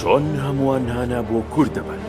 چۆن هەمووان هانا بۆ کورد دەبن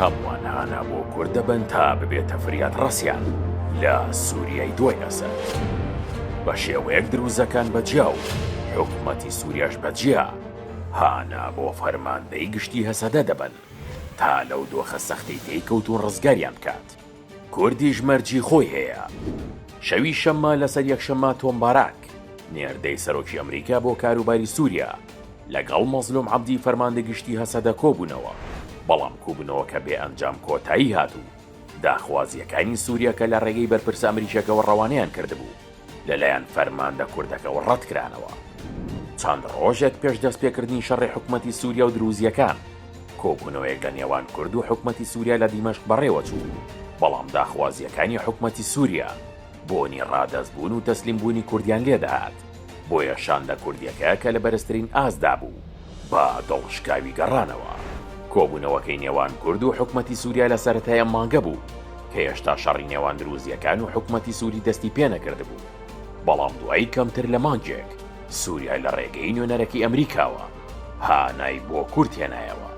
هەمووان هانا بۆ کورد دەبن تا ببێتە فریاد ڕسیان لە سووریای دوای ئەسەر بە شێوەیەک دروزەکان بەجیا و حکوومەتی سووریاش بەجیا هانا بۆ فەرماندەی گشتی هەسەدە دەبن تا لەو دۆخە سەختی تێی کەوت و ڕزگاریان بکات. کوردیش مەرجی خۆی هەیە. شەوی شەممە لەسەر یەکشەممە تۆم باراک، نێردەی سەرۆکی ئەمریکا بۆ کاروباری سووریا، لەگەڵ مەزلووم عەبدی فەرماندە گشتی هەسەدە کۆبوونەوە، بەڵام کوبنەوەکە بێ ئەنجام کۆتایی هات و داخوازییەکانی سووریا کە لە ڕێگەی بەرپرسە ئەمریکییەکەوە ڕەوانەیان کردبوو، لەلایەن فەرماندە کوردەکەوە ڕەتکرانەوە. چەند ڕۆژێک پێش دەستپێکردنی شەڕی حکومەتی سوریا و دروزییەکان، کۆبوونەوەیەک لە نێوان کورد و حکومەتی سوریا لە دیمەشق بەڕێوەچوو، بەڵام داخوازییەکانی حکومەتی سوریا بۆنی ڕادەستبوون و تەسلیمبوونی کوردیان لێدەهات، بۆیە شاندە کوردییەکە کە لە بەرزترین ئاستدا بوو، بە دڵ شکاوی گەڕانەوە. کۆبوونەوەکەی نێوان کورد و حکومەتی سوریا لە سەرەتای ئەم مانگە بوو، کە هێشتا شەڕی نێوان دروزییەکان و حکومەتی سوری دەستی پێنەکردبوو، بەڵام دوای کەمتر لە مانگێک سوریا لە ڕێگەی نوێنەرەکەی ئەمریکاوە هانای بۆ کورد هێنایەوە.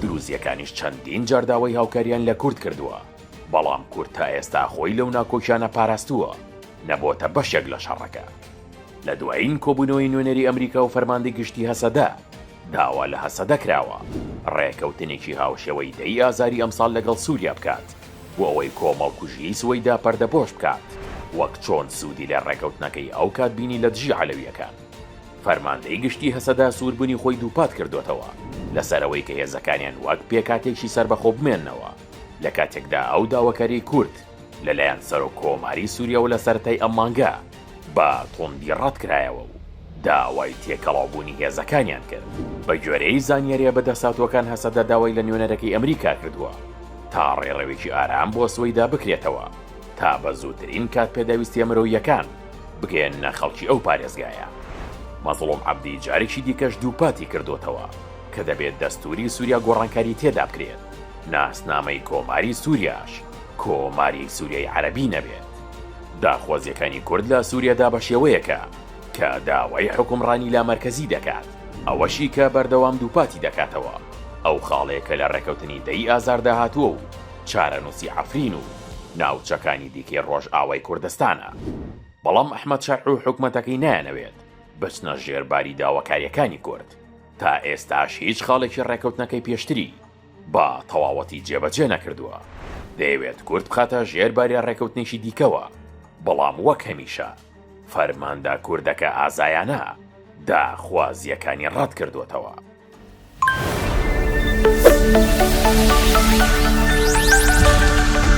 دروزییەکانیش چەندین جار داوای هاوکارییان لە کورد کردووە، بەڵام کورد تا ئێستا خۆی لەو ناکۆکیانە پاراستووە، نەبۆتە بەشێک لە شەڕەکە. لە دوایین کۆبوونەوەی نوێنەری ئەمریکا و فەرماندەی گشتی هەسەدە، داوا لە هەسەدە کراوە ڕێکەوتنێکی هاوشێوەی دەی ئازاری ئەمساڵ لەگەڵ سووریا بکات بۆ ئەوەی کۆمەڵکوژیی سوەیدا پەردەپۆش بکات، وەک چۆن سوودی لە ڕێکەوتنەکەی ئەوکات بینی لە دژی عەلەوییەکان. فەرماندەی گشتی هەسەدە سووربوونی خۆی دووپات کردووەتەوە لەسەر ئەوەی کە هێزەکانیان وەک پێکهاتەیەکی سەربەخۆ بمێننەوە، لە کاتێکدا ئەو داواکاریی کورد، لەلایەن سەرۆک کۆماری سوریەوە لە سەرەتای ئەم مانگە بە توندی ڕەتکرایەوە و داوای تێکەڵاوبوونی هێزەکانیان کرد. بەگوێرەی زانیارییە بەدەستهاتووەکان هەسەدە داوای لە نوێنەرەکەی ئەمریکا کردووە تا ڕێڕەوێکی ئارام بۆ سوەیدا بکرێتەوە تا بە زووترین کات پێداویستییە مرۆییەکان بگەیەننە خەڵکی ئەو پارێزگایە. مەزڵوم عەبدی جارێکی دیکەش دووپاتی کردووەتەوە کە دەبێت دەستووری سوریا گۆڕانکاری تێدا بکرێت، ناسنامەی کۆماری سوریاش. کۆماری سوریای عەرەبی نەبێت. داخوازیەکانی کورد لە سوریادا بە شێوەیەکە کە داوای حوکمڕانی لا مەرکەزی دەکات، ئەوەشی کە بەردەوام دووپاتی دەکاتەوە ئەو خاڵەیە کە لە ڕێکەوتنی دە ی ئازاردا هاتووە و چارەنووسی عەفرین و ناوچەکانی دیکەی ڕۆژئاوای کوردستانە. بەڵام ئەحمەد شەرع و حکومەتەکەی نایانەوێت بچنە ژێر باری داواکاریەکانی کورد. تا ئێستاش هیچ خاڵێکی ڕێکەوتنەکەی پێشتری، بە تەواوەتی جێبەجێ نەکردووە، دەیەوێت کورد بخاتە ژێر باریا ڕێکەوتنێکی دیکەوە، بەڵام وەک هەمیشە فەرماندە کوردەکە ئازایانە داخوازییەکانی ڕەتکردووەتەوە.